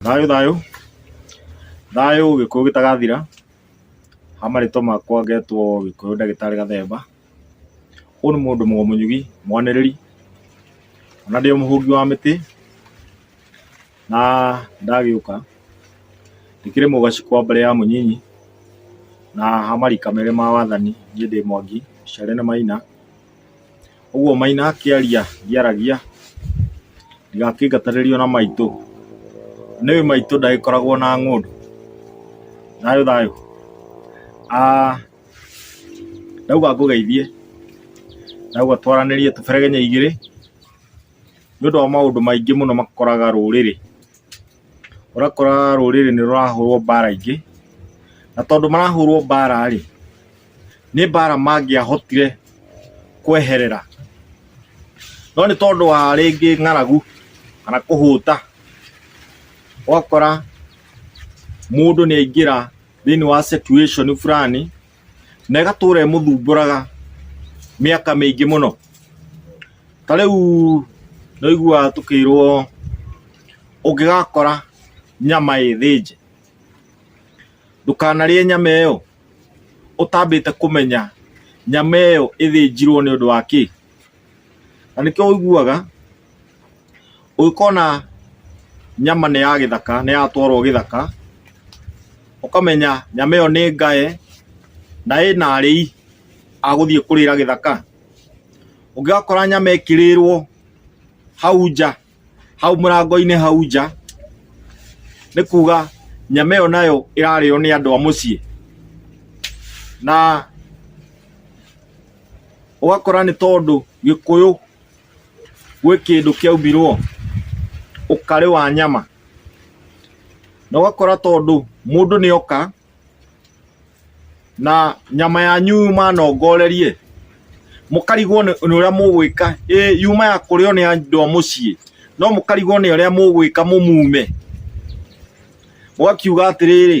Thayũ thayũ thayũ gĩkũyũ gĩtagathira, ha marĩtwa makwa ngetwo gĩkũyũ ndagĩtarĩ gathemba, ũyũ nĩ mũndũ mũgĩnyugi mwanĩrĩri na ndĩ mũhũngi wa mĩtĩ na ndagĩũka ndĩkĩrĩ mũgaci kwa mbarĩ ya mũnyinyi na ha marika merĩ ma wathani niĩ ndĩ mwangi mũciare nĩ maina. Ũguo Maina akĩaria ndiaragia, ndingakĩingatanĩrio na maitũ. Nĩũĩ maitũ ndagĩkoragwo na ng'ũndũ. Thayũ thayũ. Ah ndauga ngũgeithie, ndauga twaranĩrie tũberegenye igĩrĩ, nĩ ũndũ wa maũndũ maingĩ mũno makoraga rũrĩrĩ. ũrakora rũrĩrĩ nĩ rũrahũrwo mbara ingĩ, na tondũ marahũrwo mbara rĩ, nĩ mbara mangĩahotire kweherera, no nĩ tondũ wa rĩngĩ ng'aragu kana kũhũta, ũgakora mũndũ nĩ aingĩra thĩiniĩ wa situation burani na ĩgatũra ĩmũthumbũraga mĩaka mĩingĩ mũno ta rĩu nĩũiguaga tũkĩirwo ũngĩgakora nyama ĩthĩnje ndũkanarĩe nyama ĩyo ũtambĩte kũmenya nyama ĩyo ĩthĩnjirwo nĩ ũndũ wa kĩ, na nĩkĩo ũiguaga. Ũngĩkona nyama nĩ ya gĩthaka, nĩ yatwarwo gĩthaka, ũkamenya nyama ĩyo nĩ ngae na ĩna arĩi a gũthiĩ kũrĩra gĩthaka. Ũngĩgakora nyama ĩkĩrĩrwo hau nja, hau mũrango-inĩ hau nja, nĩ kuga nyama ĩyo nayo ĩrarĩo nĩ andũ a mũciĩ. Na ũgakora nĩ tondũ Gĩkũyũ... gwĩ kĩndũ kĩaumbirwo ũkarĩ wa nyama na ũgakora tondũ mũndũ nĩ oka na nyama yanyu yuma na ũngorerie mũkarigwo nĩ ũrĩa mũgwĩka ĩ yuma ya kũrĩo nĩ andũ a mũciĩ no mũkarigwo nĩ ũrĩa mũgwĩka mũmume mũgakiuga atĩrĩrĩ.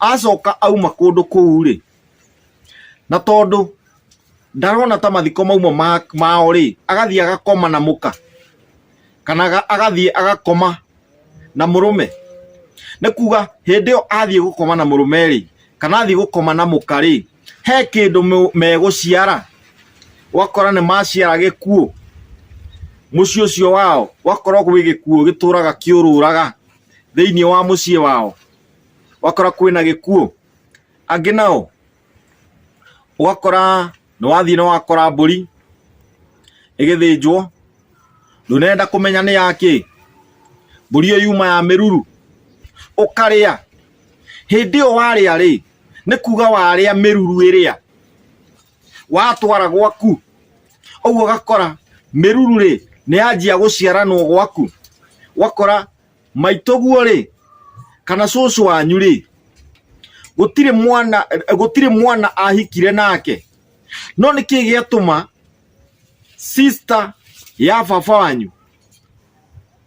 acoka auma kũndũ kũu rĩ na tondũ ndarona ta mathiko mauma mao rĩ agathiĩ agakoma na mũka kana agathiĩ agakoma na mũrũme nĩ kuga hĩndĩ ĩyo athiĩ gũkoma na mũrũme rĩ kana athiĩ gũkoma na mũka rĩ he kĩndũ megũciara wakora nĩ maciara gĩkuũ mũciĩ ũcio wao wakorwo gwĩ gĩkuũ gĩtũraga kĩũrũraga thĩinĩ wa mũciĩ wao wakora kwĩna gĩkuũ angĩ nao ũgakora nĩ wathiĩ nĩ wakora mbũri ĩgĩthĩnjwo ndũnenda kũmenya nĩ yakĩ mbũri ĩyo yuma ya mĩruru ũkarĩa hĩndĩ ĩyo warĩa rĩ nĩ kuga warĩa mĩruru ĩrĩa watwara gwaku ũguo ũgakora mĩruru rĩ nĩ yanjia gũciaranwo gwaku wakora maitũguo rĩ kana cũcũ wanyu rĩ gũtirĩ mwana gũtirĩ mwana ahikire nake no nĩ kĩĩ gĩatũma sister ya baba wanyu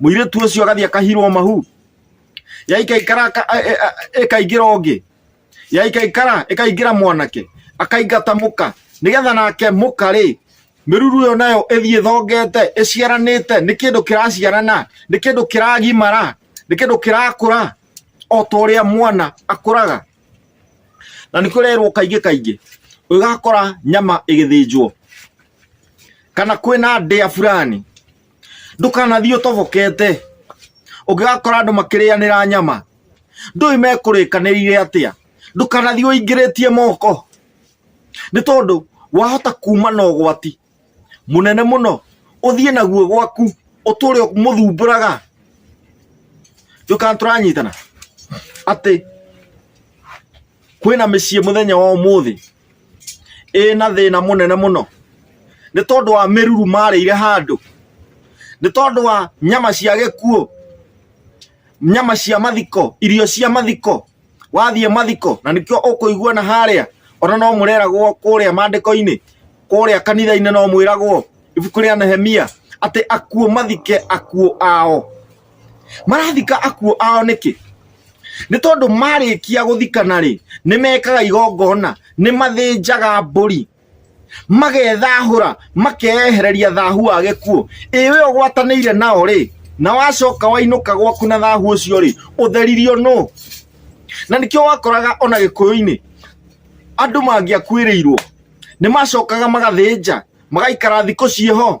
mũirĩtu ũcio agathiĩ akahirwo mahu yaikaikara aka- a- a- a- ĩkaingĩra ũngĩ yaikaikara ĩkaingĩra mwanake akaingata mũka nĩgetha nake mũka rĩ mĩruru ĩyo nayo ĩthiĩ thongete ĩciaranĩte nĩ kĩndũ kĩraciarana nĩ kĩndũ kĩragimara nĩ kĩndũ kĩrakũra o ta ũrĩa mwana akũraga na nĩ kũrerwo kaingĩ kaingĩ ũgakora nyama ĩgĩthĩnjwo kana kwĩna ndĩa fulani ndũkanathiĩ ũtobokete ũngĩgakora andũ makĩrĩanĩra nyama ndũĩ mekũrĩkanĩire atĩa ndũkanathiĩ ũingĩrĩtie moko nĩ tondũ wahota kuma na ũgwati mũnene mũno ũthiĩ naguo gwaku ũtũre mũthumbũraga ndũkana tũranyitana atĩ kwĩna mĩciĩ mũthenya wa ũmũthĩ ĩna thĩna mũnene mũno nĩ tondũ wa mĩruru marĩire handũ nĩ tondũ wa nyama cia gĩkuũ nyama cia mathiko irio cia mathiko wathiĩ mathiko na nĩkĩo ũkũigua na harĩa ona no mũreragwo kũrĩa mandĩko-inĩ kũrĩa kanitha-inĩ no mwĩragwo ibuku rĩa Nehemia atĩ akuo mathike akuo ao marathika akuo ao nĩkĩ nĩ tondũ marĩkia gũthikana rĩ nĩ mekaga igongona nĩ mathĩnjaga mbũri magethahũra makeyehereria thahu wa gĩkuũ ĩ we ũgwatanĩire nao rĩ na wacoka wainũka gwaku na thahu ũcio rĩ ũtheririo nũ na nĩkĩo wakoraga ona gĩkũyũ-inĩ andũ mangĩakuĩrĩirwo nĩ macokaga magathĩnja magaikara thikũ ciĩho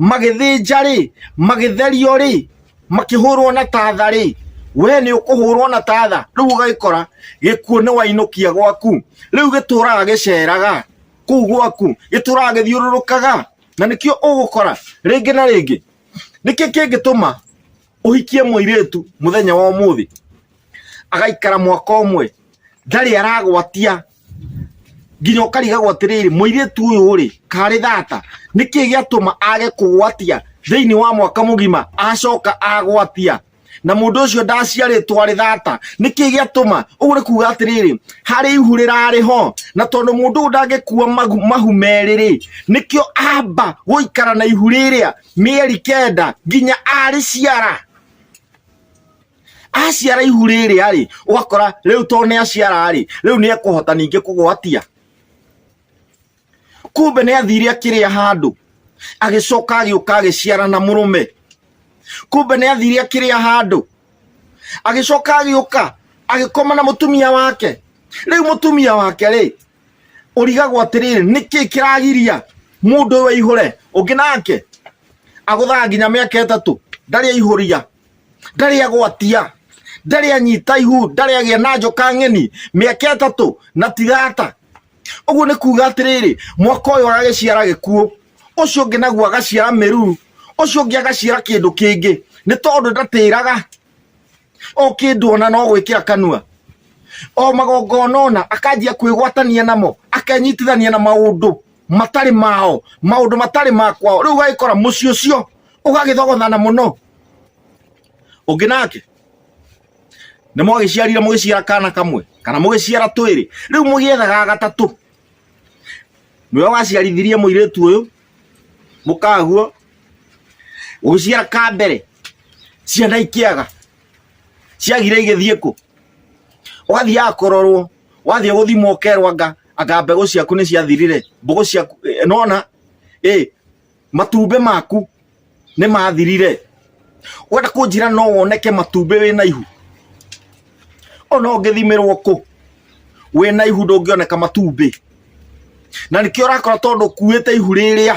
magĩthĩnja rĩ magĩtherio rĩ makĩhũrwo na tatha rĩ we nĩ ũkũhũrwo na tatha rĩu ũgagĩkora gĩkuũ nĩ wainũkia gwaku rĩu gĩtũraga gĩceraga kũu gwaku gĩtũraga gĩthiũrũrũkaga na nĩkĩo ũgũkora rĩngĩ na rĩngĩ nĩkĩo kĩngĩtũma ũhikie mũirĩtu mũthenya wa ũmũthĩ agaikara mwaka ũmwe ndarĩ aragwatia nginya ũkarigagwo atĩrĩrĩ mũirĩtu ũyũ rĩ karĩ thata nĩkĩ gĩatũma age kũgwatia thĩinĩ wa mwaka mũgima acoka agwatia na mũndũ ũcio ndaciarĩtwo arĩ thata nĩkĩ gĩatũma ũguo nĩ kuga atĩrĩrĩ harĩ ihu rĩrarĩ ho na tondũ mũndũ ũyũ ndangĩkua mahu merĩ rĩ nĩkĩo amba gũikara na ihu rĩrĩa mĩeri kenda nginya arĩciara aciara ihu rĩrĩa rĩ ũgakora rĩu to nĩ aciara rĩ rĩu nĩ ekũhota ningĩ kũgwatia kumbe nĩ athire akĩrĩa handũ agĩcoka agĩũka agĩciara na mũrũme kumbe nĩ athire akĩrĩa handũ agĩcoka agĩũka agĩkoma na mũtumia wake rĩu mũtumia wake rĩ ũrigagwo atĩrĩrĩ nĩkĩ kĩragiria mũndũ ũyũ aihũre ũngĩ nake agũthaga nginya mĩaka ĩtatũ ndarĩ aihũria ndarĩ agwatia ndarĩ anyita ihu ndarĩ agĩa na njoka ng'eni mĩaka ĩtatũ na tigata ũguo nĩ kuga atĩrĩrĩ mwaka ũyũ agagĩciara gĩkuũ ũcio ũngĩ naguo agaciara mĩruru ũcio ũngĩ agaciara kĩndũ kĩngĩ nĩ tondũ ndatĩraga o kĩndũ ona no gwĩkĩra kanua o magongona ona akanjia kwĩgwatania namo akenyitithania na maũndũ matarĩ mao maũndũ matarĩ makwao rĩu ũgagĩkora mũciĩ ũcio ũgagĩthogothana mũno ũngĩ nake nĩ mwagĩciarire mũgĩciara kana kamwe kana mũgĩciara twĩrĩ rĩu mũgĩethaga gatatũ nĩwe waciarithirie mũirĩtu ũyũ mũkaguo ũgĩciara ka mbere ciana ikĩaga ciagire igĩthiĩ kũ ũgathiaga kũrorwo wathiĩ gũthimwo ũkerwo anga anga mbegũ ciaku nĩ ciathirire mbũgũ ciaku eh, nona ĩ matumbĩ maku nĩ mathirire wenda kũnjĩra no woneke matumbĩ wĩ na ihu ona ũngĩthimĩrwo kũ wĩ na ihu ndũngĩoneka matumbĩ na nĩkĩo ũrakora tondũ kuĩte ihu rĩrĩa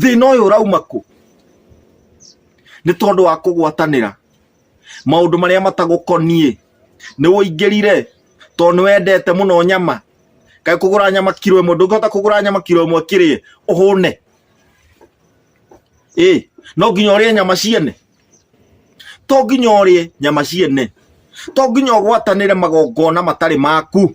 thĩna ũyũ ũrauma kũ nĩ tondũ wa kũgwatanĩra maũndũ marĩa matagũkoniĩ nĩ ũingĩrire tondũ nĩ wendete mũno nyama kaĩ kũgũra nyama kiro ĩmwe ndũngĩhota kũgũra nyama kiro ĩmwe kĩrĩe ũhũne ĩ no nginya ũrĩe nyama ciene to nginya ũrĩe nyama ciene to nginya ũgwatanĩre magongona matarĩ maku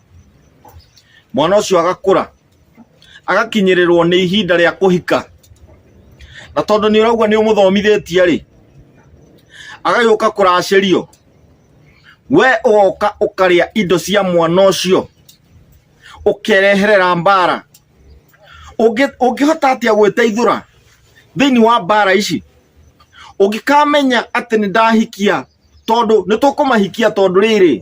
mwana ũcio agakũra agakinyĩrĩrwo nĩ ihinda rĩa kũhika na tondũ nĩ ũraigua nĩ ũmũthomithĩtie rĩ agagĩũka kũracĩrio we ũgoka ũkarĩa indo cia mwana ũcio ũkereherera mbara Ũngĩ- ũngĩhota atĩa gwĩteithũra thĩinĩ wa mbara ici ũngĩkamenya atĩ nĩ ndahikia tondũ nĩ tũkũmahikia tondũ rĩrĩ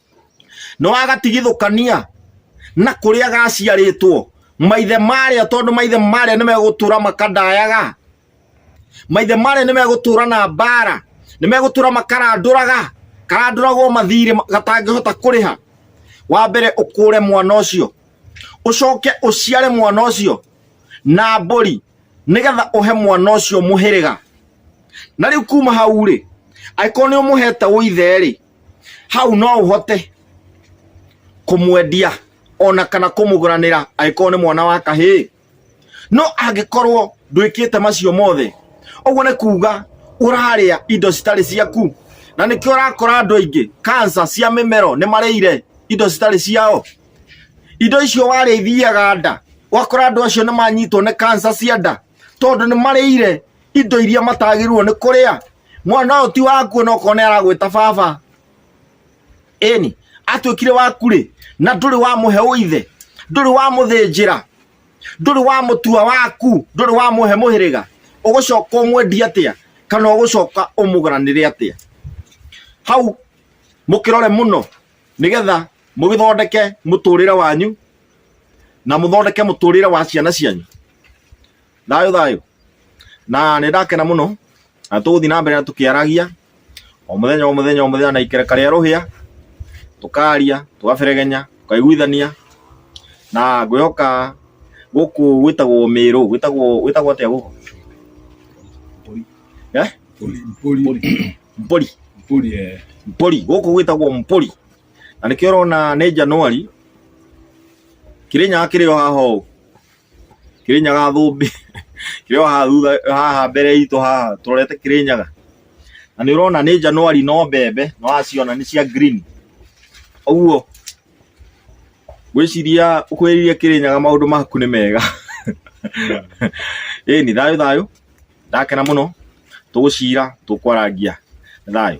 nĩ wagatigithũkania na kũrĩa gaciarĩtwo maithe marĩa tondũ maithe marĩa nĩ megũtũra makandayaga maithe marĩa nĩ megũtũra na mbara nĩ megũtũra makarandũraga karandũragwo mathirĩ gatangĩhota kũrĩha wa mbere ũkũre mwana ũcio ũcoke ũciare mwana ũcio na mbũri nĩgetha ũhe mwana ũcio mũhĩrĩga na rĩu kuma hau rĩ angĩkorwo nĩ ũmũhete ũithe rĩ hau no ũhote kũmwendia ona kana kũmũgũranĩra angĩkorwo nĩ mwana wa kahĩĩ no angĩkorwo ndwĩkĩte macio mothe ũguo nĩ kuga ũrarĩa indo citarĩ ciaku na nĩkĩo ũrakora andũ aingĩ kansa cia mĩmero nĩ marĩire indo citarĩ ciao indo icio warĩa ithiaga nda wakora andũ acio nĩ manyitwo nĩ kansa cia nda tondũ nĩ marĩire indo iria matagĩrĩirwo nĩ kũrĩa mwana ũyũ ti waku ona okorwo nĩ aragwĩta baba ĩni atuĩkire waku rĩ na ndũrĩ wamũhe ũithe ndũrĩ wamũthĩnjĩra ndũrĩ wamũtua waku ndũrĩ wamũhe mũhĩrĩga ũgũcoka ũmwendia atĩa kana ũgũcoka ũmũgaranĩre atĩa hau mũkĩrore mũno nĩgetha mũgĩthondeke mũtũrĩre wanyu na mũthondeke mũtũrĩre wa ciana cianyu Thayũ thayũ. Na nĩ ndakena mũno na tũgũthiĩ na mbere na tũkĩaragia o mũthenya o mũthenya o mũthenya na ikereka rĩa rũhĩa tũkaria tũgaberegenya tũkaiguithania na ngwĩhoka gũkũ gwĩtagwo mĩrũ gwĩtagwo gwĩtagwo atĩa gũkũ eh? mbũri mbũri gũkũ gwĩtagwo mbũri na nĩkĩo ũrona nĩ Januari kĩrĩnyaga kĩrĩ o haha ũũ Kĩrĩnyaga thũmbĩ kĩrĩ o haha thutha haha mbere itũ haha tũrorete Kĩrĩnyaga, na nĩ ũrona nĩ January no mbembe nĩ ũraciona nĩ cia green ũguo ngwĩciria ũkuhĩrĩirie Kĩrĩnyaga maũndũ maku nĩ mega. Ĩni thayũ thayũ ndakena mũno tũgũcira tũkwarangia thayũ.